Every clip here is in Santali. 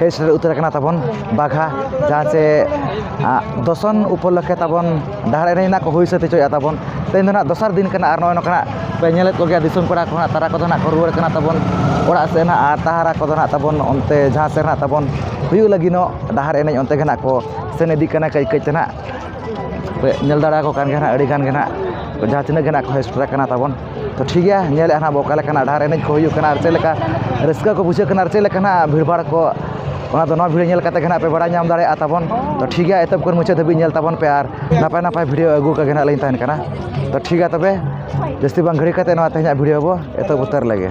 ᱦᱮᱡ ᱥᱮᱴᱮᱨ ᱩᱛᱟᱹᱨ ᱟᱠᱟᱱᱟ ᱛᱟᱵᱚᱱ ᱵᱟᱜᱷᱟ ᱡᱟᱦᱟᱸ ᱪᱮ ᱫᱚᱥᱚᱱ ᱩᱯᱚᱞᱚᱠᱠᱷᱮ ᱛᱟᱵᱚᱱ ᱰᱟᱦᱟᱨ ᱮᱱᱮᱡ ᱱᱟᱜ ᱠᱚ ᱦᱩᱭ ᱥᱟᱹᱛ ᱦᱚᱪᱚᱭᱮᱜᱼᱟ ᱛᱟᱵᱚᱱ ᱛᱮᱦᱮᱧ ᱫᱚ ᱱᱟᱜ ᱫᱚᱥᱟᱨ ᱫᱤᱱ ᱠᱟᱱᱟ ᱟᱨ ᱱᱚᱜᱼᱚᱭ ᱱᱚᱝᱠᱟ ᱱᱟᱜ ᱯᱮ ᱧᱮᱞᱮᱫ ᱠᱚᱜᱮᱭᱟ ᱫᱤᱥᱚᱢ ᱠᱚᱲᱟ ᱠᱚ ᱱᱟᱜ ᱛᱟᱨᱟ ᱠᱚᱫᱚ ᱱᱟᱜ ᱠᱚ ᱨᱩᱣᱟᱹᱲ ᱠᱟᱱᱟ ᱛᱟᱵᱚᱱ ᱚᱲᱟᱜ ᱥᱮᱫ ᱱᱟᱜ ᱟᱨ ᱛᱟᱦᱟᱨᱟ ᱠᱚᱫᱚ ᱱᱟᱜ ᱛᱟᱵᱚᱱ ᱚᱱᱛᱮ ᱡᱟᱦᱟᱸ ᱥᱮᱫ ᱱᱟᱜ ᱛᱟᱵᱚᱱ ᱦᱩᱭᱩᱜ ᱞᱟᱹᱜᱤᱫᱚᱜ ᱰᱟᱦᱟᱨ ᱮᱱᱮᱡ ᱚᱱᱛᱮ ᱜᱮ ᱱᱟᱜ ᱠᱚ ᱥᱮᱱ ᱤᱫᱤᱜ ᱠᱟᱱᱟ ᱠᱟᱹᱡ ᱠᱟᱹᱡ ᱛᱮ ᱱᱟᱜ ᱧᱮᱞ ᱫᱟᱲᱮᱭᱟᱠᱚ ᱠᱟᱱ ᱜᱮᱭᱟ ᱱᱟᱜ ᱟᱹᱰᱤᱜᱟᱱ ᱜᱮ ᱱᱟᱜ ᱡᱟᱦᱟᱸ ᱛᱤᱱᱟᱹᱜ ᱜᱮ ᱱᱟᱜ ᱠᱚ ᱦᱮᱡ ᱥᱮᱴᱮᱨ ᱠᱟᱱᱟ ᱛᱟᱵᱚᱱ ᱛᱚ ᱴᱷᱤᱠ ᱜᱮᱭᱟ ᱧᱮᱞᱮᱫᱼᱟ ᱦᱟᱸᱜ ᱵᱚᱱ ᱚᱠᱟ ᱞᱮᱠᱟᱱᱟᱜ ᱰᱟᱦᱟᱨ ᱮᱱᱮᱡ ᱠᱚ ᱦᱩᱭᱩᱜ ᱠᱟᱱᱟ ᱟᱨ ᱪᱮᱫ ᱞᱮᱠᱟ ᱨᱟᱹᱥᱠᱟᱹ ᱠᱚ ᱵᱩᱡᱷᱟᱹᱜ ᱠᱟᱱᱟ ᱟᱨ ᱪᱮᱫ ᱞᱮᱠᱟ ᱦᱟᱸᱜ ᱵᱷᱤᱲ ᱵᱷᱟᱲ ᱠᱚ ᱚᱱᱟ ᱫᱚ ᱱᱚᱣᱟ ᱵᱷᱤᱰᱭᱳ ᱧᱮᱞ ᱠᱟᱛᱮᱫ ᱜᱮ ᱦᱟᱸᱜ ᱯᱮ ᱵᱟᱲᱟᱭ ᱧᱟᱢ ᱫᱟᱲᱮᱭᱟᱜᱼᱟ ᱛᱟᱵᱚᱱ ᱛᱚ ᱴᱷᱤᱠ ᱜᱮᱭᱟ ᱮᱛᱚᱦᱚᱵ ᱠᱷᱚᱱ ᱢᱩᱪᱟᱹᱫ ᱫᱷᱟᱹᱵᱤᱡ ᱧᱮᱞ ᱛᱟᱵᱚᱱ ᱯᱮ ᱟᱨ ᱱᱟᱯᱟᱭ ᱱᱟᱯᱟᱭ ᱵᱷᱤᱰᱭᱳ ᱟᱹᱜᱩ ᱟᱠᱟᱫ ᱜᱮ ᱦᱟᱸᱜ ᱞᱤᱧ ᱛᱟᱦᱮᱱ ᱠᱟᱱᱟ ᱛᱚ ᱴᱷᱤᱠ ᱜᱮᱭᱟ ᱛᱚᱵᱮ ᱡᱟᱹᱥᱛᱤ ᱵᱟᱝ ᱜᱷᱟᱹᱲᱤᱠ ᱠᱟᱛᱮᱫ ᱱᱚᱣᱟ ᱛᱮᱦᱮᱧᱟᱜ ᱵᱷᱤᱰᱭᱳ ᱵᱚᱱ ᱮᱛᱚᱦᱚᱵ ᱩᱛᱟᱹᱨ ᱞᱮᱜᱮ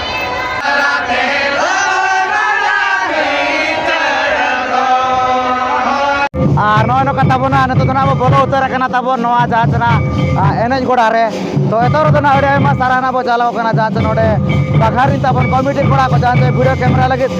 ᱟᱨ ᱱᱚᱜᱼᱚᱭ ᱱᱚᱝᱠᱟ ᱛᱟᱵᱚᱱᱟ ᱱᱤᱛᱚᱜ ᱫᱚ ᱱᱟᱜ ᱵᱚ ᱵᱚᱞᱚ ᱩᱛᱟᱹᱨ ᱟᱠᱟᱱᱟ ᱛᱟᱵᱚᱱ ᱱᱚᱣᱟ ᱡᱟᱦᱟᱸ ᱪᱮ ᱱᱟᱜ ᱮᱱᱮᱡ ᱜᱚᱰᱟ ᱨᱮ ᱛᱚ ᱮᱛᱚᱦᱚᱵ ᱨᱮᱫᱚ ᱱᱟᱜ ᱟᱹᱰᱤ ᱟᱭᱢᱟ ᱥᱟᱨᱦᱟᱣ ᱱᱟᱜ ᱵᱚ ᱪᱟᱞᱟᱣ ᱠᱟᱱᱟ ᱡᱟᱦᱟᱸ ᱪᱮ ᱱᱚᱰᱮ ᱵᱟᱜᱷᱟᱨᱤᱱ ᱛᱟᱵᱚᱱ ᱠᱚᱢᱤᱴᱤ ᱠᱚᱲᱟ ᱠᱚ ᱡᱟᱦᱟᱸ ᱪᱮ ᱵᱷᱤᱰᱤᱭᱳ ᱠᱮᱢᱮᱨᱟ ᱞᱟᱹᱜᱤᱫ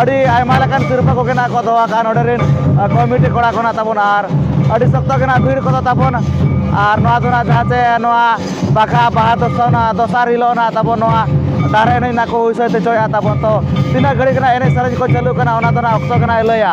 ᱟᱹᱰᱤ ᱟᱭᱢᱟ ᱞᱮᱠᱟᱱ ᱥᱤᱨᱯᱟᱹ ᱠᱚᱜᱮ ᱱᱟᱜ ᱠᱚ ᱫᱚᱦᱚ ᱟᱠᱟᱫᱼᱟ ᱱᱚᱰᱮ ᱨᱮᱱ ᱠᱚᱢᱤᱴᱤ ᱠᱚᱲᱟ ᱠᱚ ᱱᱟᱜ ᱛᱟᱵᱚᱱ ᱟᱨ ᱟᱹᱰᱤ ᱥᱚᱠᱛᱚ ᱜᱮ ᱱᱟᱜ ᱵᱷᱤᱲ ᱠᱚᱫᱚ ᱛᱟᱵᱚᱱ ᱟᱨ ᱱᱚᱣᱟ ᱫᱚ ᱱᱟᱜ ᱡᱟᱦᱟᱸ ᱛᱮ ᱱᱚᱣᱟ ᱵᱟᱦᱟ ᱵᱟᱦᱟ ᱫᱚᱥᱟᱨ ᱱᱟᱜ ᱫᱚᱥᱟᱨ ᱦᱤᱞᱳᱜ ᱱᱟᱜ ᱛᱟᱵᱚᱱ ᱱᱚᱣᱟ ᱰᱟᱦᱟᱨ ᱮᱱᱮᱡ ᱱᱟᱜ ᱠᱚ ᱦᱩᱭ ᱥᱟᱹᱛ ᱦᱚᱪᱚᱭᱮᱫᱼᱟ ᱛᱟᱵᱚᱱ ᱛᱚ ᱛᱤᱱᱟᱹᱜ ᱜᱷᱟᱹᱲᱤᱡ ᱱᱟᱜ ᱮᱱᱮᱡ ᱥᱮᱨᱮᱧ ᱠᱚ ᱪᱟᱹᱞᱩᱜ ᱠᱟᱱᱟ ᱚᱱᱟ ᱫᱚ ᱱᱟᱜ ᱚᱠᱛᱚ ᱜᱮ ᱱᱟᱜ ᱮ ᱞᱟᱹᱭᱟ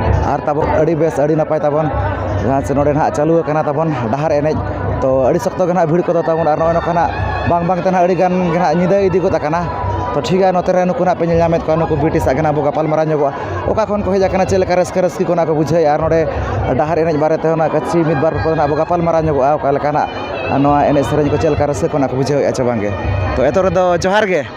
ᱟᱨ ᱛᱟᱵᱚᱱ ᱟᱹᱰᱤ ᱵᱮᱥ ᱟᱹᱰᱤ ᱱᱟᱯᱟᱭ ᱛᱟᱵᱚᱱ ᱡᱟᱦᱟᱸ ᱥᱮ ᱱᱚᱰᱮ ᱦᱟᱸᱜ ᱪᱟᱹᱞᱩ ᱟᱠᱟᱱᱟ ᱛᱟᱵᱚᱱ ᱰᱟᱦᱟᱨ ᱮᱱᱮᱡ ᱛᱳ ᱟᱹᱰᱤ ᱥᱚᱠᱛᱚ ᱜᱮ ᱦᱟᱸᱜ ᱵᱷᱤᱲ ᱠᱚᱫᱚ ᱛᱟᱵᱚᱱ ᱟᱨ ᱱᱚᱜᱼᱚᱸᱭ ᱱᱚᱝᱠᱟᱱᱟᱜ ᱵᱟᱝ ᱵᱟᱝᱛᱮ ᱦᱟᱸᱜ ᱟᱹᱰᱤᱜᱟᱱ ᱜᱮ ᱦᱟᱸᱜ ᱧᱤᱫᱟᱹ ᱤᱫᱤ ᱜᱚᱫ ᱠᱟᱱᱟ ᱛᱳ ᱴᱷᱤᱠ ᱜᱮᱭᱟ ᱱᱚᱛᱮ ᱨᱮ ᱱᱩᱠᱩ ᱦᱟᱸᱜ ᱯᱮ ᱧᱮᱞ ᱧᱟᱢᱮᱜ ᱠᱚᱣᱟ ᱱᱩᱠᱩ ᱵᱤᱴᱤᱥ ᱟᱜ ᱜᱮ ᱦᱟᱸᱜ ᱵᱚᱱ ᱜᱟᱯᱟᱞ ᱢᱟᱨᱟᱣ ᱧᱚᱜᱚᱜᱼᱟ ᱚᱠᱟ ᱠᱷᱚᱱ ᱠᱚ ᱦᱮᱡ ᱠᱟᱱᱟ ᱪᱮᱫ ᱞᱮᱠᱟ ᱨᱟᱹᱥᱠᱟᱹ ᱨᱟᱹᱥᱠᱤ ᱠᱚ ᱚᱱᱟ ᱠᱚ ᱵᱩᱡᱷᱟᱹᱣ ᱮᱜᱼᱟ ᱟᱨ ᱱᱚᱰᱮ ᱰᱟᱦᱟᱨ ᱮᱱᱮᱡ ᱵᱟᱨᱮ ᱛᱮ ᱚᱱᱟ ᱠᱟᱹᱪ ᱢᱤᱫ ᱵᱟᱨ ᱠᱚ ᱦᱟᱸᱜ ᱵᱚᱱ ᱜᱟᱯᱟᱞ ᱢᱟᱨᱟᱣ ᱧᱚᱜᱚᱜᱼᱟ ᱚᱠᱟ ᱞᱮᱠᱟᱱᱟᱜ ᱱᱚᱣᱟ ᱮᱱᱮᱡ ᱥᱮᱨᱮᱧ ᱠᱚ ᱪᱮᱫ ᱞᱮᱠᱟ ᱨᱟᱹᱥᱠᱟᱹ ᱠᱚ ᱚᱱᱟ ᱠᱚ ᱵᱩᱡᱷᱟᱹᱣ ᱮᱜᱼᱟ ᱥᱮ ᱵᱟᱝ ᱜᱮ ᱛᱳ ᱮᱛᱚᱦᱚᱵ ᱨᱮᱫᱚ ᱡᱚᱦᱟᱨ ᱜᱮ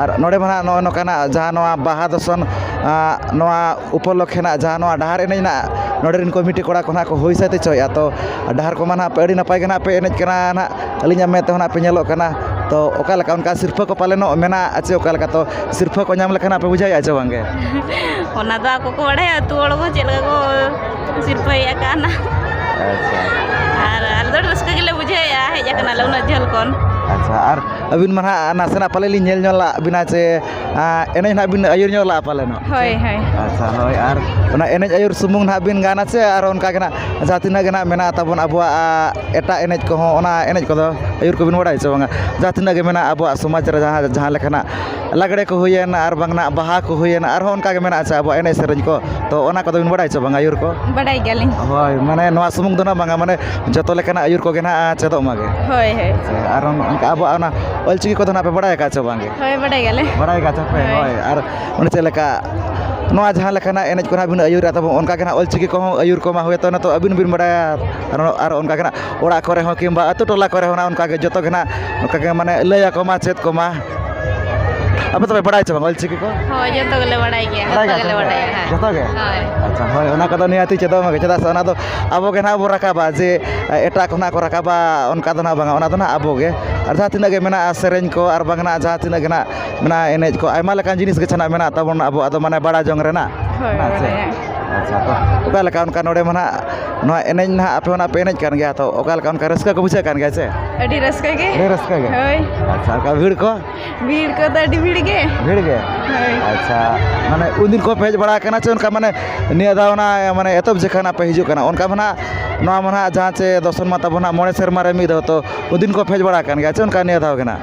ᱟᱨ ᱱᱚᱰᱮ ᱢᱟ ᱦᱟᱸᱜ ᱱᱚᱜᱼᱚᱭ ᱱᱚᱝᱠᱟᱱᱟᱜ ᱡᱟᱦᱟᱸ ᱱᱚᱣᱟ ᱵᱟᱦᱟ ᱫᱚᱥᱚᱱ ᱱᱚᱣᱟ ᱩᱯᱚᱞᱚᱠᱠᱷᱮ ᱱᱟᱜ ᱡᱟᱦᱟᱸ ᱱᱚᱣᱟ ᱰᱟᱦᱟᱨ ᱮᱱᱮᱡ ᱱᱟᱜ ᱱᱚᱰᱮ ᱨᱮᱱ ᱠᱚᱢᱤᱴᱤ ᱠᱚᱲᱟ ᱠᱚ ᱱᱟᱜ ᱠᱚ ᱦᱩᱭ ᱥᱟᱹᱛ ᱦᱚᱪᱚᱭᱮᱜᱼᱟ ᱛᱚ ᱰᱟᱦᱟᱨ ᱠᱚᱢᱟ ᱱᱟᱜ ᱟᱹᱰᱤ ᱱᱟᱯᱟᱭ ᱜᱮ ᱱᱟᱜ ᱯᱮ ᱮᱱᱮᱡ ᱠᱟᱱᱟ ᱱᱟᱜ ᱟᱹᱞᱤᱧᱟᱜ ᱢᱮᱫ ᱛᱮᱦᱚᱸ ᱱᱟᱜ ᱯᱮ ᱧᱮᱞᱚᱜ ᱠᱟᱱᱟ ᱛᱚ ᱚᱠᱟ ᱞᱮᱠᱟ ᱚᱱᱠᱟ ᱥᱤᱨᱯᱟᱹ ᱠᱚ ᱯᱟᱞᱮᱱᱚᱜ ᱢᱮᱱᱟᱜᱼᱟ ᱪᱮ ᱚᱠᱟ ᱞᱮᱠᱟ ᱛᱚ ᱥᱤᱨᱯᱟᱹ ᱠᱚ ᱧᱟᱢ ᱞᱮᱠᱷᱟᱱ ᱯᱮ ᱵᱩᱡᱷᱟᱹᱣᱮᱜᱼᱟ ᱪᱮ ᱵᱟᱝᱜᱮ ᱚᱱᱟ ᱫᱚ ᱟᱠᱚ ᱠᱚ ᱵᱟᱲᱟᱭᱟ ᱟᱛᱳ ᱦᱚᱲ ᱠᱚ ᱪᱮᱫ ᱞᱮᱠᱟ ᱠᱚ ᱥᱤᱨᱯᱟᱹᱭᱮᱜ ᱠᱟᱱᱟ ᱟᱨ ᱟᱞᱮ ᱫᱚ ᱨᱟᱹᱥᱠᱟᱹ ᱜᱮᱞᱮ ᱵᱩᱡᱷᱟᱹᱣᱮᱜᱼᱟ ᱦᱮᱡ ᱠᱟᱱᱟᱞᱮ ᱩᱱᱟᱹᱜ ᱡᱷᱟᱹᱞ ᱠᱷᱚᱱ ᱟᱪᱪᱷᱟ ᱟᱨ ᱟᱹᱵᱤᱱ ᱢᱟ ᱦᱟᱸᱜ ᱱᱟᱥᱮᱱᱟᱜ ᱯᱟᱞᱮ ᱞᱤᱧ ᱧᱮᱞ ᱧᱚᱜ ᱞᱟᱜ ᱵᱤᱱᱟ ᱥᱮ ᱮᱱᱮᱡ ᱦᱟᱸᱜ ᱵᱤᱱ ᱟᱹᱭᱩᱨ ᱧᱚᱜ ᱞᱟᱜᱼᱟ ᱯᱟᱞᱮᱱ ᱦᱟᱸᱜ ᱦᱳᱭ ᱦᱳᱭ ᱟᱪᱪᱷᱟ ᱦᱳᱭ ᱟᱨ ᱚᱱᱟ ᱮᱱᱮᱡ ᱟᱹᱭᱩᱨ ᱥᱩᱢᱩᱝ ᱦᱟᱸᱜ ᱵᱤᱱ ᱜᱟᱱᱟ ᱥᱮ ᱟᱨ ᱚᱱᱠᱟ ᱜᱮ ᱦᱟᱸᱜ ᱡᱟᱦᱟᱸ ᱛᱤᱱᱟᱹᱜ ᱜᱮ ᱦᱟᱸᱜ ᱢᱮᱱᱟᱜ ᱛᱟᱵᱚᱱ ᱟᱵᱚᱣᱟᱜ ᱮᱴᱟᱜ ᱮᱱᱮᱡ ᱠᱚᱦᱚᱸ ᱚᱱᱟ ᱮᱱᱮᱡ ᱠᱚᱫᱚ ᱟᱹᱭᱩᱨ ᱠᱚᱵᱤᱱ ᱵᱟᱲᱟᱭᱟ ᱥᱮ ᱵᱟᱝᱟ ᱡᱟᱦᱟᱸ ᱛᱤᱱᱟᱹᱜ ᱜᱮ ᱢᱮᱱᱟᱜᱼᱟ ᱟᱵᱚᱣᱟᱜ ᱥᱚᱢᱟᱡᱽ ᱨᱮ ᱡᱟᱦᱟᱸ ᱞᱮᱠᱟᱱᱟᱜ ᱞᱟᱜᱽᱲᱮ ᱠᱚ ᱦᱩᱭᱮᱱ ᱟᱨ ᱵᱟᱝ ᱱᱟᱜ ᱵᱟᱦᱟ ᱠᱚ ᱦᱩᱭᱮᱱ ᱟᱨᱦᱚᱸ ᱚᱱᱠᱟᱜᱮ ᱢᱮᱱᱟᱜ ᱟᱥᱮ ᱟᱵᱚᱣᱟᱜ ᱮᱱᱮᱡ ᱥᱮᱨᱮᱧ ᱠᱚ ᱛᱚ ᱚᱱᱟ ᱠᱚᱫᱚ ᱵᱤᱱ ᱵᱟᱲᱟᱭᱟ ᱥᱮ ᱵᱟᱝ ᱟᱹᱭᱩᱨ ᱠᱚ ᱵᱟᱰᱟᱭ ᱜᱮᱭᱟᱞᱤᱧ ᱦᱳᱭ ᱢᱟᱱᱮ ᱱᱚᱣᱟ ᱥᱩᱢᱩᱝ ᱫᱚ ᱦᱟᱸᱜ ᱵᱟᱝᱟ ᱢᱟᱱᱮ ᱡᱚᱛᱚ ᱞᱮᱠᱟᱱᱟᱜ ᱟᱹᱭᱩᱨ ᱠᱚᱜᱮ ᱦᱟᱸᱜ ᱪᱮᱫᱚᱜ ᱢᱟᱜᱮ ᱦᱳᱭ ᱦᱳᱭ ᱟᱨ ᱚᱱᱠᱟ ᱟᱵᱚᱣᱟᱜ ᱚᱱᱟ ᱚᱞ ᱪᱤᱠᱤ ᱠᱚᱫᱚ ᱦᱟᱸᱜ ᱯᱮ ᱵᱟᱲᱟᱭ ᱠᱟᱜᱼᱟ ᱥᱮ ᱵᱟᱝ ᱜᱮ ᱦᱳᱭ ᱵᱟᱰᱟᱭ ᱜᱮᱭᱟᱞᱮ ᱵᱟᱲᱟᱭ ᱠᱟᱜ ᱛᱟᱯᱮ ᱦᱳᱭ ᱟᱨ ᱚᱱᱮ ᱪᱮᱫ ᱞᱮᱠᱟ ᱱᱚᱣᱟ ᱡᱟᱦᱟᱸ ᱞᱮᱠᱟᱱᱟᱜ ᱮᱱᱮᱡ ᱠᱚ ᱦᱟᱸᱜ ᱵᱤᱱ ᱟᱹᱭᱩᱨᱟ ᱛᱟᱵᱚ ᱚᱱᱠᱟᱜᱮ ᱦᱟᱸᱜ ᱚᱞ ᱪᱤᱠᱤ ᱠᱚᱦᱚᱸ ᱟᱹᱭᱩᱨ ᱠᱚᱢᱟ ᱦᱚᱭᱛᱳ ᱱᱤᱛᱚᱜ ᱟᱹᱵᱤᱱ ᱵᱤᱱ ᱵᱟᱲᱟᱭᱟ ᱟᱨ ᱚᱱᱠᱟᱜᱮ ᱦᱟᱸᱜ ᱚᱲᱟᱜ ᱠᱚᱨᱮ ᱦᱚᱸ ᱠᱤᱢᱵᱟ ᱟᱹᱛᱩ ᱴᱚᱞᱟ ᱠᱚᱨᱮ ᱦᱚᱸ ᱚᱱᱠᱟᱜᱮ ᱡᱚᱛᱚᱜᱮ ᱦᱟᱸᱜ ᱚᱱᱠᱟᱜᱮ ᱢᱟᱱᱮ ᱞᱟᱹᱭ ᱟᱠᱚ ᱢᱟ ᱪᱮᱫ ᱠᱚᱢᱟ ᱟᱯᱮ ᱛᱚᱵᱮ ᱵᱟᱲᱟᱭ ᱪᱮ ᱵᱟᱝ ᱚᱞ ᱪᱤᱠᱤ ᱠᱚ ᱦᱳᱭ ᱡᱚᱛᱚ ᱜᱮᱞᱮ ᱵᱟᱲᱟᱭ ᱜᱮᱭᱟ ᱡᱚᱛᱚ ᱜᱮᱞᱮ ᱵᱟᱲᱟᱭᱟ ᱦᱮᱸ ᱡᱚᱛᱚ ᱜᱮ ᱦᱳᱭ ᱟᱪᱪᱷᱟ ᱦᱳᱭ ᱚᱱᱟ ᱠᱚᱫᱚ ᱱᱤᱦᱟᱹᱛ ᱪᱮᱫᱚᱜ ᱢᱟᱜᱮ ᱪᱮᱫᱟᱜ ᱥᱮ ᱚᱱᱟ ᱫᱚ ᱟᱵᱚ ᱜᱮ ᱱᱟᱦᱟᱜ ᱵᱚᱱ ᱨᱟᱠᱟᱵᱟ ᱡᱮ ᱮᱴᱟᱜ ᱠᱷᱚᱱᱟᱜ ᱠᱚ ᱨᱟᱠᱟᱵᱟ ᱚᱱᱠᱟ ᱫᱚ ᱱᱟᱦᱟᱜ ᱵᱟᱝᱟ ᱚᱱᱟ ᱫᱚ ᱱᱟᱦᱟᱜ ᱟᱵᱚ ᱜᱮ ᱟᱨ ᱡᱟᱦᱟᱸ ᱛᱤᱱᱟᱹᱜ ᱜᱮ ᱢᱮᱱᱟᱜᱼᱟ ᱥᱮᱨᱮᱧ ᱠᱚ ᱟᱨ ᱵᱟᱝ ᱱᱟᱦᱟᱜ ᱡᱟᱦᱟᱸ ᱛᱤᱱᱟᱹᱜ ᱜᱮ ᱱᱟᱦᱟᱜ ᱢᱮᱱᱟᱜᱼᱟ ᱮᱱᱮᱡ ᱠᱚ ᱟᱭᱢᱟ ᱞᱮᱠᱟᱱ ᱡᱤᱱᱤᱥ ᱜᱮ ᱱᱟᱦᱟᱜ ᱢᱮᱱᱟᱜ ᱛᱟᱵᱚᱱᱟ ᱟᱵᱚᱣᱟᱜ ᱫᱚ ᱢᱟᱱᱮ ᱵᱟᱲᱟᱭ ᱡᱚᱝ ᱨᱮᱱᱟᱜ ᱦᱳᱭ ᱵᱟᱲᱟᱭᱟ ᱚᱠᱟ ᱞᱮᱠᱟ ᱚᱱᱠᱟ ᱱᱚᱰᱮ ᱢᱟ ᱱᱟᱦᱟᱜ ᱱᱚᱣᱟ ᱮᱱᱮᱡ ᱱᱟᱦᱟᱜ ᱟᱯᱮ ᱦᱚᱸ ᱱᱟᱦᱟᱜ ᱯᱮ ᱮᱱᱮᱡ ᱠᱟᱱ ᱜᱮᱭᱟ ᱛᱚ ᱚᱠᱟ ᱞᱮᱠᱟ ᱚᱱᱠᱟ ᱨᱟᱹᱥᱠᱟᱹ ᱠᱚ ᱵᱩᱡᱷᱟᱹᱜ ᱠᱟᱱ ᱜᱮᱭᱟ ᱥᱮ ᱟᱹᱰᱤ ᱨᱟᱹᱥᱠᱟᱹ ᱜᱮ ᱟᱹᱰᱤ ᱨᱟᱹᱥᱠᱟᱹ ᱜᱮ ᱦᱳᱭ ᱟᱪᱪᱷᱟ ᱚᱱᱠᱟ ᱵᱷᱤᱲ ᱠᱚ ᱵᱷᱤᱲ ᱠᱚᱫᱚ ᱟᱹᱰᱤ ᱵᱷᱤᱲ ᱜᱮ ᱵᱷᱤᱲ ᱜᱮ ᱦᱳᱭ ᱟᱪᱪᱷᱟ ᱢᱟᱱᱮ ᱩᱱ ᱫᱤᱱ ᱠᱷᱚᱱ ᱯᱮ ᱦᱮᱡ ᱵᱟᱲᱟ ᱠᱟᱱᱟ ᱥᱮ ᱚᱱᱠᱟ ᱢᱟᱱᱮ ᱱᱤᱭᱟᱹ ᱫᱷᱟᱣ ᱚᱱᱟ ᱢᱟᱱᱮ ᱮᱛᱚᱦᱚᱵ ᱡᱚᱠᱷᱚᱱ ᱦᱟᱸᱜ ᱯᱮ ᱦᱤᱡᱩᱜ ᱠᱟᱱᱟ ᱚᱱᱠᱟ ᱢᱟ ᱱᱟᱦᱟᱜ ᱱᱚᱣᱟ ᱢᱟ ᱱᱟᱦᱟᱜ ᱡᱟᱦᱟᱸ ᱪᱮ ᱫᱚᱨᱥᱚᱱ ᱢᱟ ᱛᱟᱵᱚᱱ ᱱᱟᱦᱟᱜ ᱢᱚᱬᱮ ᱥᱮᱨᱢᱟ ᱨᱮ ᱢᱤᱫ ᱫᱷᱟᱣ ᱛᱚ ᱩᱱ ᱫᱤᱱ ᱠᱷᱚᱱ ᱯᱮ ᱦᱮᱡ ᱵᱟᱲᱟ ᱠᱟᱱ ᱜᱮᱭᱟ ᱥᱮ ᱚᱱᱠᱟ ᱱᱤᱭᱟᱹ ᱫᱷᱟᱣ ᱜᱮ ᱱᱟᱦᱟᱜ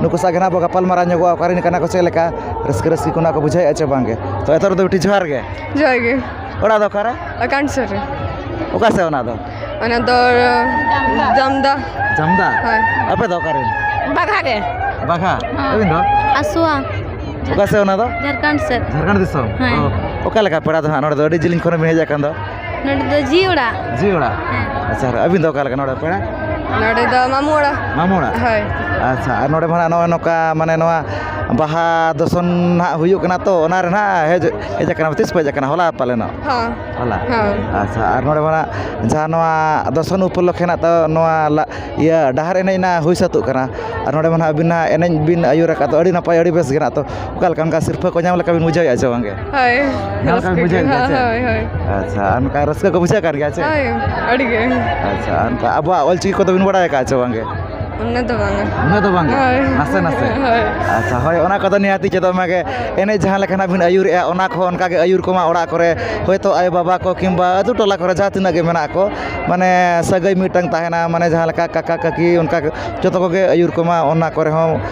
ᱱᱩᱠᱩ ᱥᱟᱶ ᱜᱮ ᱦᱟᱸᱜ ᱵᱚᱱ ᱜᱟᱯᱟᱞᱢᱟᱨᱟᱣ ᱧᱚᱜᱚᱜᱼᱟ ᱚᱠᱟ ᱨᱮᱱ ᱠᱟᱱᱟ ᱠᱚ ᱪᱮᱫ ᱞᱮᱠᱟ ᱨᱟᱹᱥᱠᱟᱹ ᱨᱟᱹᱥᱠᱤ ᱠᱚ ᱱᱟᱜ ᱠᱚ ᱵᱩᱡᱷᱟᱹᱣᱮᱫᱼᱟ ᱪᱮ ᱵᱟᱝ ᱜᱮ ᱛᱚ ᱮᱛᱚᱦᱚᱵ ᱨᱮᱫᱚ ᱵᱤᱴᱤ ᱡᱚᱦᱟᱨ ᱜᱮ ᱡᱚᱦᱟᱨ ᱜᱮ ᱚᱲᱟᱜ ᱫᱚ ᱚᱠᱟᱨᱮ ᱟᱠᱟᱱ ᱥᱩᱨ ᱨᱮ ᱚᱠᱟ ᱥᱮᱫ ᱚᱱᱟ ᱫᱚ ᱚᱱᱟ ᱫᱚ ᱡᱟᱢᱫᱟ ᱡᱟᱢᱫᱟ ᱦᱳᱭ ᱟᱯᱮ ᱫᱚ ᱚᱠᱟ ᱨᱮᱱ ᱵᱟᱜᱷᱟ ᱜᱮ ᱵᱟᱜᱷᱟ ᱟᱹᱵᱤᱱ ᱫᱚ ᱟᱥᱣᱟ ᱚᱠᱟ ᱥᱮᱫ ᱚᱱᱟ ᱫᱚ ᱡᱷᱟᱲᱠᱷᱚᱸᱰ ᱥᱮᱫ ᱡᱷᱟᱲᱠᱷᱚᱸᱰ ᱫᱤᱥᱚᱢ ᱦᱮᱸ ᱚ ᱚᱠᱟ ᱞᱮᱠᱟ ᱯᱮᱲᱟ ᱫᱚ ᱦᱟᱸᱜ ᱱᱚᱰᱮ ᱫᱚ ᱟᱹᱰᱤ ᱡᱤᱞᱤᱧ ᱠᱷᱚᱱ ᱵᱤᱱ ᱦᱮᱡ ᱟᱠᱟᱱ ᱫᱚ ᱱᱚᱰᱮ ᱫᱚ ᱡᱤ ᱚᱲᱟᱜ ᱡᱤ ᱚᱲᱟᱜ ᱟᱪᱪᱷᱟ ᱟᱨ ᱟᱹᱵᱤᱱ ᱫᱚ ᱚᱠᱟ ᱞᱮᱠᱟ ᱱᱚᱰᱮ ᱯᱮᱲᱟ ᱱᱚᱰᱮ ᱫᱚ ᱢᱟᱢᱩ ᱚᱲᱟᱜ ᱢᱟᱢᱚ ᱚᱲᱟᱜ ᱦᱳᱭ ᱟᱪᱪᱷᱟ ᱟᱨ ᱱᱚᱰᱮ ᱢᱟ ᱱᱚᱜᱼᱚᱸᱭ ᱱᱚᱝᱠᱟ ᱢᱟᱱᱮ ᱱᱚᱣᱟ ᱵᱟᱦᱟ ᱫᱚᱥᱚᱱ ᱱᱟᱦᱟᱜ ᱦᱩᱭᱩᱜ ᱠᱟᱱᱟ ᱛᱚ ᱚᱱᱟ ᱨᱮ ᱱᱟᱦᱟᱜ ᱦᱮᱡ ᱦᱮᱡ ᱠᱟᱱᱟ ᱛᱤᱥ ᱯᱮ ᱦᱮᱡ ᱠᱟᱱᱟ ᱦᱚᱞᱟ ᱯᱟᱞᱮᱱᱚᱜ ᱦᱚᱸ ᱦᱚᱞᱟ ᱦᱚᱸ ᱟᱪᱪᱷᱟ ᱟᱨ ᱱᱚᱰᱮ ᱢᱟ ᱱᱟᱦᱟᱜ ᱡᱟᱦᱟᱸ ᱱᱚᱣᱟ ᱫᱚᱥᱚᱱ ᱩᱯᱚᱞᱚᱠᱠᱷᱮ ᱱᱟᱜ ᱛᱚ ᱱᱚᱣᱟ ᱞᱟ ᱤᱭᱟᱹ ᱰᱟᱦᱟᱨ ᱮᱱᱮᱡ ᱱᱟᱜ ᱦᱩᱭ ᱥᱟᱹᱛᱚᱜ ᱠᱟᱱᱟ ᱟᱨ ᱱᱚᱰᱮ ᱢᱟ ᱱᱟᱦᱟᱜ ᱟᱹᱵᱤᱱ ᱱᱟᱦᱟᱜ ᱮᱱᱮᱡ ᱵᱤᱱ ᱟᱹᱭᱩᱨ ᱟᱠᱟᱫ ᱫᱚ ᱟᱹᱰᱤ ᱱᱟᱯᱟᱭ ᱟᱹᱰᱤ ᱵᱮᱥ ᱜᱮ ᱱᱟᱜ ᱛᱚ ᱚᱠᱟ ᱞᱮᱠᱟ ᱚᱱᱠᱟ ᱥᱤᱨᱯᱟᱹ ᱠᱚ ᱧᱟᱢ ᱞᱮᱠᱟ ᱵᱤᱱ ᱵᱩᱡᱷᱟᱹᱣᱮᱫᱼᱟ ᱥᱮ ᱵᱟᱝᱜᱮ ᱦᱳᱭ ᱧᱟᱢ ᱞᱮᱠᱟ ᱵᱤᱱ ᱵᱩᱡᱷᱟᱹᱣᱮᱫ ᱜᱮᱭᱟ ᱥᱮ ᱦᱳᱭ ᱦᱳᱭ ᱟᱪᱪᱷᱟ ᱟᱨ ᱚᱱᱠᱟ ᱨᱟᱹᱥᱠᱟᱹ ᱠᱚ ᱵᱩᱡᱷᱟᱹᱜ ᱠᱟᱱ ᱜᱮᱭᱟ ᱪᱮ ᱦᱳᱭ ᱟᱹᱰᱤᱜᱮ ᱟᱪᱪᱷᱟ ᱟᱨ ᱚᱱᱠᱟ ᱟᱵᱚᱣᱟᱜ ᱚᱞ ᱪᱤᱠᱤ ᱠᱚᱫᱚ ᱵᱤᱱ ᱵᱟᱲᱟᱭ ᱟᱠᱟᱫᱼᱟ ᱥᱮ ᱵᱟᱝᱜᱮ ᱩᱱᱟᱹᱜ ᱫᱚ ᱵᱟᱝᱟ ᱩᱱᱟᱹᱜ ᱫᱚ ᱵᱟᱝᱜᱮ ᱦᱳᱭ ᱱᱟᱥᱮ ᱱᱟᱥᱮ ᱦᱳᱭ ᱟᱪᱪᱷᱟ ᱦᱳᱭ ᱚᱱᱟ ᱠᱚᱫᱚ ᱱᱤᱦᱟᱹᱛᱤ ᱪᱮᱫᱚᱜ ᱢᱟᱜᱮ ᱮᱱᱮᱡ ᱡᱟᱦᱟᱸ ᱞᱮᱠᱟ ᱱᱟᱦᱟᱜ ᱵᱤᱱ ᱟᱹᱭᱩᱨᱮᱜᱼᱟ ᱚᱱᱟ ᱠᱚᱦᱚᱸ ᱚᱱᱠᱟᱜᱮ ᱟᱹᱭᱩᱨ ᱠᱚᱢᱟ ᱚᱲᱟᱜ ᱠᱚᱨᱮ ᱦᱳᱭᱛᱳ ᱟᱭᱳᱼᱵᱟᱵᱟ ᱠᱚ ᱠᱤᱢᱵᱟ ᱟᱹᱛᱩ ᱴᱚᱞᱟ ᱠᱚᱨᱮ ᱡᱟᱦᱟᱸ ᱛᱤᱱᱟᱹᱜ ᱜᱮ ᱢᱮᱱᱟᱜ ᱠᱚ ᱢᱟᱱᱮ ᱥᱟᱹᱜᱟᱹᱭ ᱢᱤᱫᱴᱟᱱ ᱛᱟᱦᱮᱱᱟ ᱢᱟᱱᱮ ᱡᱟᱦᱟᱸ ᱞᱮᱠᱟ ᱠᱟᱠᱟ ᱠᱟᱹᱠᱤ ᱚᱱᱠᱟ ᱡᱚᱛᱚ ᱠᱚᱜᱮ ᱟᱹᱭᱩᱨ ᱠᱚᱢᱟ ᱚᱱᱟ ᱠᱚᱨᱮ ᱦᱚᱸ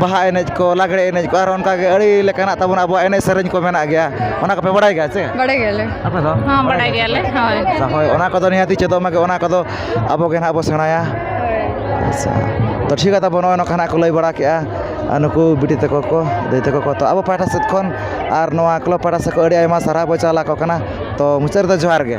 ᱵᱟᱦᱟ ᱮᱱᱮᱡ ᱠᱚ ᱞᱟᱜᱽᱲᱮ ᱮᱱᱮᱡ ᱠᱚ ᱟᱨᱚ ᱚᱱᱠᱟ ᱜᱮ ᱟᱹᱰᱤ ᱞᱮᱠᱟᱱᱟᱜ ᱛᱟᱵᱚᱱ ᱟᱵᱚᱣᱟᱜ ᱮᱱᱮᱡ ᱥᱮᱨᱮᱧ ᱠᱚ ᱢᱮᱱᱟᱜ ᱜᱮᱭᱟ ᱚᱱᱟ ᱠᱚᱯᱮ ᱵᱟᱲᱟᱭ ᱜᱮᱭᱟ ᱥᱮ ᱵᱟᱲᱟᱭ ᱜᱮᱭᱟᱞᱮ ᱟᱯᱮ ᱫᱚ ᱦᱚᱸ ᱵᱟᱲᱟᱭ ᱜᱮᱭᱟᱞᱮ ᱦᱳᱭ ᱦᱳᱭ ᱚᱱᱟ ᱠᱚᱫᱚ ᱱᱤᱦᱟᱹᱛᱤ ᱪᱮᱫᱚᱜ ᱢᱟᱜᱮ ᱚᱱᱟ ᱠᱚᱫᱚ ᱟᱵᱚ ᱜᱮ ᱦᱟᱸᱜ ᱵᱚᱱ ᱥᱮᱬᱟᱭᱟ ᱟᱪᱪᱷᱟ ᱛᱳ ᱴᱷᱤᱠ ᱜᱮᱭᱟ ᱛᱟᱵᱚᱱ ᱱᱚᱜᱼᱚᱭ ᱱᱚᱝᱠᱟ ᱦᱟᱸᱜ ᱠᱚ ᱞᱟᱹᱭ ᱵᱟᱲᱟ ᱠᱮᱜᱼᱟ ᱟᱨ ᱱᱩᱠᱩ ᱵᱤᱴᱤ ᱛᱟᱠᱚ ᱠᱚ ᱫᱟᱹᱭ ᱛᱟᱠᱚ ᱠᱚ ᱛᱳ ᱟᱵᱚ ᱯᱟᱦᱴᱟ ᱥᱮᱫ ᱠᱷᱚᱱ ᱟᱨ ᱱᱚᱣᱟ ᱠᱞᱟᱵᱽ ᱯᱟᱦᱴᱟ ᱥᱮᱫ ᱠᱷᱚᱱ ᱟᱹᱰᱤ ᱟᱭᱢᱟ ᱥᱟᱨᱦᱟᱣ ᱵᱚᱱ ᱪᱟᱞ ᱟᱠᱚ ᱠᱟᱱᱟ ᱛᱳ ᱢᱩᱪᱟᱹᱫ ᱨᱮᱫᱚ ᱡᱚᱦᱟᱨ ᱜᱮ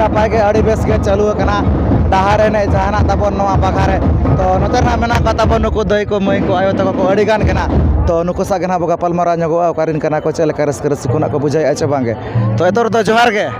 ᱱᱟᱯᱟᱭ ᱜᱮ ᱟᱹᱰᱤ ᱵᱮᱥ ᱜᱮ ᱪᱟᱹᱞᱩ ᱟᱠᱟᱱᱟ ᱰᱟᱦᱟᱨ ᱮᱱᱮᱡ ᱡᱟᱦᱟᱱᱟᱜ ᱛᱟᱵᱚᱱ ᱱᱚᱣᱟ ᱵᱟᱜᱷᱟ ᱨᱮ ᱛᱚ ᱱᱚᱛᱮ ᱨᱮᱱᱟᱜ ᱢᱮᱱᱟᱜ ᱠᱚᱣᱟ ᱛᱟᱵᱚᱱ ᱱᱩᱠᱩ ᱫᱟᱹᱭ ᱠᱚ ᱢᱟᱹᱭ ᱠᱚ ᱟᱭᱳ ᱛᱟᱠᱚ ᱠᱚ ᱟᱹᱰᱤ ᱜᱟᱱ ᱜᱮ ᱱᱟᱜ ᱛᱚ ᱱᱩᱠᱩ ᱥᱟᱜ ᱜᱮ ᱱᱟᱜ ᱵᱚ ᱜᱟᱯᱟᱞᱢᱟᱨᱟᱣ ᱧᱚᱜᱚᱜᱼᱟ ᱚᱠᱟᱨᱮᱱ ᱠᱟᱱᱟ ᱠᱚ ᱪᱮᱫ ᱞᱮᱠᱟ ᱨᱟᱹᱥᱠᱟᱹ ᱨᱟᱹᱥᱠᱤ ᱠᱚ ᱱᱟᱜ ᱠᱚ ᱵᱩᱡᱷᱟᱹᱣᱮᱫᱼᱟ ᱪᱮ ᱵᱟᱝᱜᱮ ᱛᱚ ᱮᱛᱚ ᱨᱮᱫᱚ ᱡᱚᱦᱟᱨ ᱜᱮ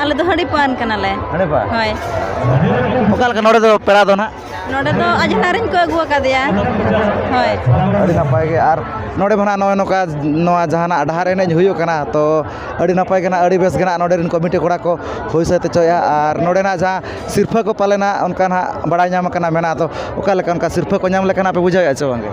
ᱟᱞᱮ ᱫᱚ ᱦᱟᱺᱰᱤ ᱯᱟᱹᱱ ᱠᱟᱱᱟᱞᱮ ᱦᱟᱺᱰᱤ ᱯᱟᱹᱱ ᱦᱳᱭ ᱚᱠᱟ ᱞᱮᱠᱟ ᱱᱚᱰᱮ ᱫᱚ ᱯᱮᱲᱟ ᱫᱚ ᱱᱟᱜ ᱱᱚᱰᱮ ᱫᱚ ᱟᱡᱷᱱᱟᱨ ᱨᱮᱱ ᱠᱚ ᱟᱹᱜᱩ ᱟᱠᱟᱫᱮᱭᱟ ᱦᱳᱭ ᱟᱹᱰᱤ ᱱᱟᱯᱟᱭ ᱜᱮ ᱟᱨ ᱱᱚᱰᱮ ᱢᱟ ᱱᱟᱜ ᱱᱚᱜᱼᱚᱸᱭ ᱱᱚᱝᱠᱟ ᱱᱚᱣᱟ ᱡᱟᱦᱟᱱᱟᱜ ᱰᱟᱦᱟᱨ ᱮᱱᱮᱡ ᱦᱩᱭᱩᱜ ᱠᱟᱱᱟ ᱛᱚ ᱟᱹᱰᱤ ᱱᱟᱯᱟᱭ ᱜᱮ ᱱᱟᱜ ᱟᱹᱰᱤ ᱵᱮᱥ ᱜᱮ ᱱᱟᱜ ᱱᱚᱰᱮ ᱨᱮᱱ ᱠᱚᱢᱤᱴᱤ ᱠᱚᱲᱟ ᱠᱚ ᱦᱩᱭ ᱥᱟᱹᱛ ᱦᱚᱪᱚᱭᱮᱜᱼᱟ ᱟᱨ ᱱᱚᱰᱮᱱᱟᱜ ᱡᱟᱦᱟᱸ ᱥᱤᱨᱯᱟᱹ ᱠᱚ ᱯᱟᱞᱮᱱ ᱦᱟᱸᱜ ᱚᱱᱠᱟ ᱱᱟᱜ ᱵᱟᱲᱟᱭ ᱧᱟᱢ ᱠᱟᱱᱟ ᱢᱮᱱᱟᱜ ᱫᱚ ᱚᱠᱟ ᱞᱮᱠᱟ ᱚᱱᱠᱟ ᱥᱤᱨᱯᱟᱹ ᱠᱚ ᱧᱟᱢ ᱞᱮᱠᱟᱱᱟᱜ ᱯᱮ ᱵᱩᱡᱷᱟᱹᱣᱮᱜᱼᱟ ᱥᱮ ᱵᱟᱝ ᱜᱮ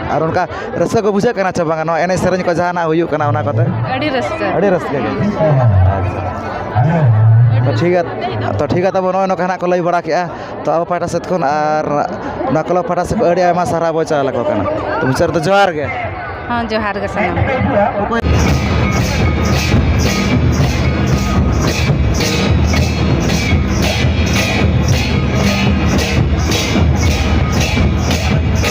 ᱟᱨ ᱚᱱᱠᱟ ᱨᱟᱹᱥᱠᱟᱹ ᱠᱚ ᱵᱩᱡᱷᱟᱹᱜ ᱠᱟᱱᱟ ᱥᱮ ᱵᱟᱝ ᱱᱚᱣᱟ ᱮᱱᱮᱡ ᱥᱮᱨᱮᱧ ᱠᱚ ᱡᱟᱦᱟᱱᱟᱜ ᱦᱩᱭᱩᱜ ᱠᱟᱱᱟ ᱚᱱᱟ ᱠᱚᱛᱮ ᱟᱹᱰᱤ ᱨᱟᱹᱥᱠᱟᱹ ᱟᱹᱰᱤ ᱨᱟᱹᱥᱠᱟᱹ ᱜᱮ ᱟᱪᱪᱷᱟ ᱴᱷᱤᱠ ᱜᱮᱭᱟ ᱛᱚ ᱴᱷᱤᱠ ᱜᱮᱭᱟ ᱛᱟᱵᱚ ᱱᱚᱜᱼᱚᱭ ᱱᱚᱝᱠᱟ ᱦᱟᱸᱜ ᱠᱚ ᱞᱟᱹᱭ ᱵᱟᱲᱟ ᱠᱮᱜᱼᱟ ᱛᱚ ᱟᱵᱚ ᱯᱟᱦᱴᱟ ᱥᱮᱫ ᱠᱷᱚᱱ ᱟᱨ ᱱᱚᱣᱟ ᱠᱞᱟᱵᱽ ᱯᱟᱦᱴᱟ ᱥᱮᱫ ᱠᱷᱚᱱ ᱟᱹᱰᱤ ᱟᱭᱢᱟ ᱥᱟᱨᱦᱟᱣ ᱵᱚᱱ ᱪᱟᱞ ᱟᱠᱚ ᱠᱟᱱᱟ ᱛᱚ ᱢᱩᱪᱟᱹᱫ ᱨᱮᱫᱚ ᱡᱚᱦᱟᱨ ᱜᱮ ᱦᱚᱸ ᱡᱚᱦᱟᱨ ᱜᱮ ᱥᱟᱱᱟᱢ ᱠᱚ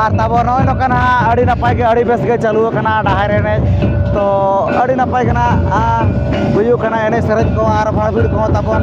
ᱟᱨ ᱛᱟᱵᱚ ᱱᱚᱜᱼᱚᱭ ᱱᱚᱝᱠᱟᱱ ᱦᱟᱸᱜ ᱟᱹᱰᱤ ᱱᱟᱯᱟᱭ ᱜᱮ ᱟᱹᱰᱤ ᱵᱮᱥ ᱜᱮ ᱪᱟᱹᱞᱩ ᱟᱠᱟᱱᱟ ᱰᱟᱦᱟᱨ ᱮᱱᱮᱡ ᱛᱚ ᱟᱹᱰᱤ ᱱᱟᱯᱟᱭ ᱜᱮ ᱱᱟᱦᱟᱜ ᱦᱩᱭᱩᱜ ᱠᱟᱱᱟ ᱮᱱᱮᱡ ᱥᱮᱨᱮᱧ ᱠᱚ ᱟᱨ ᱵᱷᱟᱲ ᱵᱷᱤᱲ ᱠᱚᱦᱚᱸ ᱛᱟᱵᱚᱱ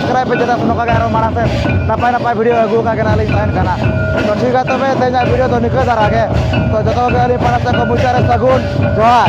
ᱥᱟᱵᱥᱠᱨᱟᱭᱤᱵ ᱯᱮ ᱪᱮᱫᱟᱜ ᱱᱚᱝᱠᱟ ᱜᱮ ᱟᱨᱚ ᱢᱟᱲᱟᱝ ᱥᱮᱫ ᱱᱟᱯᱟᱭ ᱱᱟᱯᱟᱭ ᱵᱷᱤᱰᱤᱭᱳ ᱟᱹᱜᱩ ᱟᱠᱟᱫ ᱜᱮᱱᱟᱞᱤᱧ ᱛᱟᱦᱮᱱ ᱠᱟᱱᱟ ᱛᱚ ᱴᱷᱤᱠ ᱜᱮᱭᱟ ᱛᱚᱵᱮ ᱛᱮᱦᱮᱧᱟᱜ ᱵᱷᱤᱰᱤᱭᱳ ᱫᱚ ᱱᱤᱠᱟᱹ ᱫᱷᱟᱨᱟ ᱜᱮ ᱛᱚ ᱡᱚᱛᱚ ᱠᱚᱜᱮ ᱟᱹᱞᱤᱧ ᱯᱟᱲᱦᱟᱜ ᱥᱮᱫ ᱠᱷᱚᱱ ᱢᱩᱪᱟᱹᱫ ᱨᱮ ᱥᱟᱹᱜᱩᱱ ᱡᱚᱦᱟᱨ